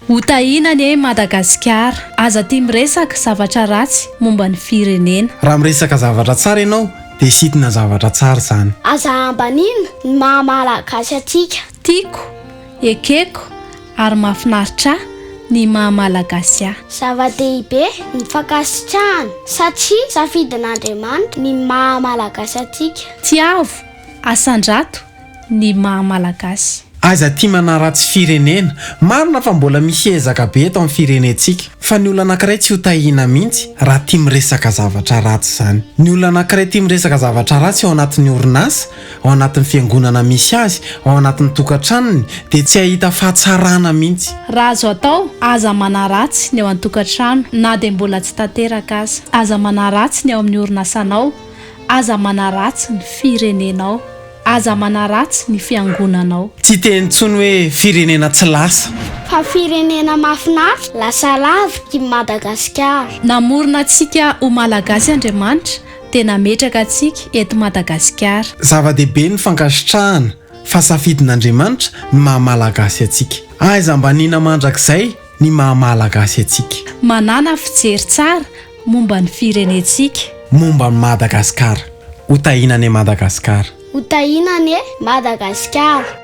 Ho tahiana anie Madagasikara. Aza tia miresaka zavatra ratsy momba ny firenena. Raha miresaka zavatra tsara ianao dia sitina zavatra tsara izany. Aza ambanina ny maha Malagasy antsika. Tiako, ekeko ary mahafinaritra ahy ny maha Malagasy ahy. Zava-dehibe ny fankasitrahana satria safidin'Andriamanitra ny maha Malagasy antsika. Tiavo, Asandrato, ny maha Malagasy. Aza tia manaratsy firenena. Marina fa mbola misy ezaka be eto amin'ny firenentsika. Fa ny olona anankiray tsy ho tahiana mihitsy raha tia miresaka zavatra ratsy izany. Ny olona anankiray tia miresaka zavatra ratsy ao anatin'ny orinasa, ao anatin'ny fiangonana misy azy, ao anatin'ny tokantranony dia tsy hahita fahatsarana mihitsy. Raha azo atao, aza manaratsy ny ao an-tokantrano na dia mbola tsy tanteraka aza. Aza manaratsy ny ao amin'ny orinasanao. Aza manaratsy ny firenenao. Aza manaratsy ny fiangonanao. Tsy hiteny intsony hoe firenena tsy lasa. Fa firenena mahafinaritra. Lasa lavitra i Madagasikara. Namorona antsika ho Malagasy Andriamanitra dia nametraka antsika eto Madagasikara. Zava-dehibe ny fankasitrahana fa safidin'Andriamanitra ny maha Malagasy antsika. Aiza ambanina mandrakizay ny maha Malagasy antsika. Manàna fijery tsara momba ny firenentsika. Momba an'i Madagasikara. Ho tahiana anie Madagasikara. Ho tahiana anie Madagasikara.